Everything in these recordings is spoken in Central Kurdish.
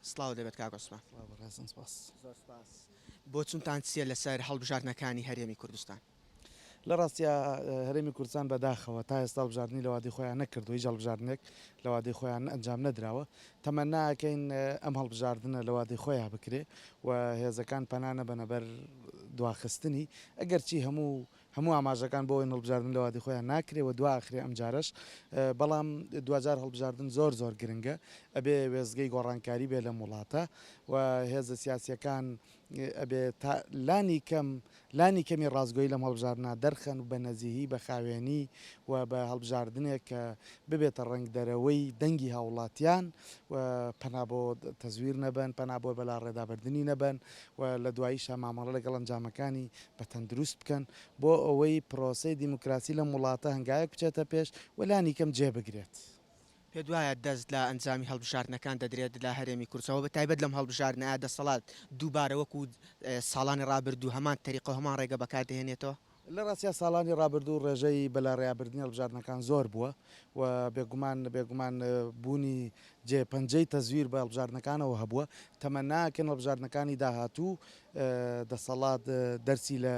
سڵاو دەبێت کاک عوسمان. سڵاو بەڕێزم سپاس. زۆر سپاس. بۆچونتان چیە لەسەر هەڵبژاردنەکانی هەرێمی کوردستان؟ لە ڕاستیا هەرێمی کوردستان بە داخەوە تا ئێستا هەڵبژاردنی لە وادەی خۆیان نەکردووە هیچ هەڵبژاردنێک لە وادەی خۆیان ئەنجام نەدراوە تەمەنا ئەکەین ئەم هەڵبژاردنە لە وادەی خۆیان بکرێ و هێزەکان پەنا نەبەنە بەر دواخستنی ئەگەرچی هەموو هەموو ئاماژەکان بۆ ئەوەین هەڵبژاردن لەوادی خۆیان ناکرێ و دوا ئەخرێ ئەمجارەش بەڵام دواجار هەڵبژاردن زۆر زۆر گرنگە ئەبێ وێستگەی گۆڕانکاری بێ لەم وڵاتە و هێزە سیاسیەکان ئەبێ تا لانی کەم لانی کەمی ڕاستگۆی لەم هەڵبژاردنا دەرخەن و بە نەزیهی بە خاوێنی و بە هەڵبژاردنێک کە ببێتە ڕنگ دەرەوەی دەنگی هاوڵاتیان و پەنا بۆ تەزویر نەبەن پەنا بۆ بەلا ڕێدابردننی نەبەن و لە دواییشە مامەڵە لەگەڵ ئەنجامەکانی بە تەندروست بکەن بۆ ئەوەی پرۆسەی دیموکراسی لەم وڵاتە هەنگاوێک بچێتە پێش و لانیکەم جێ بگرێت. پێت وایە دەست لە ئەنجامی هەڵبژاردنەکان دەدرێت لە هەرێمی کوردستان؟ بە تایبەت لەم هەڵبژاردنە دەسەڵات دووبارە وەکو ساڵانی ڕابردوو هەمان تەریقە و هەمان ڕێگە بەکار دەهێنێتەوە؟ لە ڕاستیا ساڵانی ڕابردوو ڕێژەی بەلاڕێیابردنی هەڵبژاردنەکان زۆر بووە و بێگومان بێگومان بوونی جێ پەنجەی تەزویر بە هەڵبژاردنەکانەوە هەبووە. تەمەناکەن هەڵبژاردنەکانی داهاتوو دەسەڵات دەرسی لە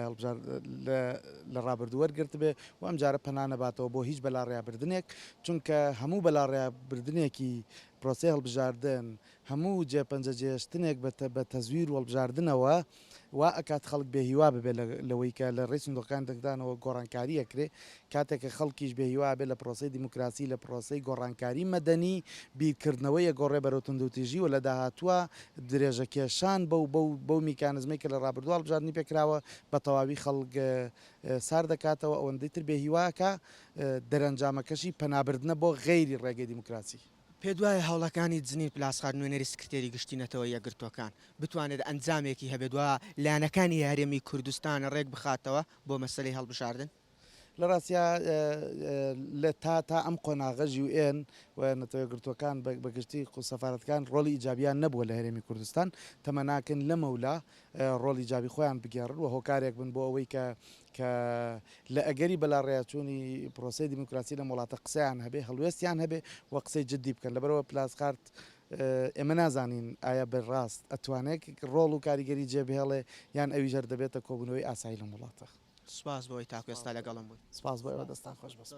لە ڕابردوو وەرگرتبێ و ئەم جارە پەنا نەباتەوە بۆ هیچ بەلاڕێابردنێک چونکە هەموو بەلاڕێابردنێکی پرۆسەی هەڵبژاردن هەموو جێپەنجە جێشتنێک بە تەزویر وەڵبژاردنەوە وا ئەکات خەڵک بێهیوا ببێت لەوەی کە لە ڕێی سندوقەکان دەکدانەوە گۆڕانکاریەکرێ کاتێک کە خەڵکیش بێ هیوا ئەبێ لە پرۆسەی دیموکراسی، لە پرۆسەی گۆڕانکاری مەدەنی، بیرکردنەوەی ئەگۆڕێ بەرەو توندوتیژی و لە داهاتووا درێژەکێشان بەو بەو بەو میکانزمەی کە لە ڕابردوو هەڵبژاردنی پێ کراوە، بە تەواوی خەڵک سارد دەکاتەوە، ئەوەندەی تر بێ هیوا ئەکا، دەرەنجامەکەشی پەنابردنە بۆ غەیری ڕێگەی دیموکراسی. پێتوایە هەوڵەکانی جنین پلاسخارت نوێنەری سکرتێری گشتی نەتەوە یەکگرتووەکان، بتوانێت ئەنجامێکی هەبێت و لایەنەکانی هەرێمی کوردستان ڕێکبخاتەوە بۆ مەسەلەی هەڵبژاردن؟ لە ڕاستیا لە تا تا ئەم قۆناغە ژیو ئێن و نەتەوە یەکگرتووەکان بە گشتی و سەفارەتکان ڕۆڵی ئیجابیان نەبووە لە هەرێمی کوردستان، تەمە ناکەن لەمەولا ڕۆڵی ئیجابی خۆیان بگێڕن و هۆکارێک بن بۆ ئەوەی کە کە لە ئەگەری بەلاڕێیاچوونی پرۆسەی دیموکراسی لەم وڵاتە قسەیان هەبێ، هەڵوێستیان هەبێ و قسەی جدی بکەن. لەبەرئەوە پلاسخارت ئێمە نازانین ئایا بە ڕاست ئەتوانێک ڕۆڵ و کاریگەری جێ بهێڵێ یان ئەویش هەر دەبێتە کۆبوونەوەی ئاسایی لەم وڵاتە. سپاس بۆ ئەوەی تاکو ئێستا لەگەڵم بوویت. سپاس بۆ ئێوە دەستان خۆش.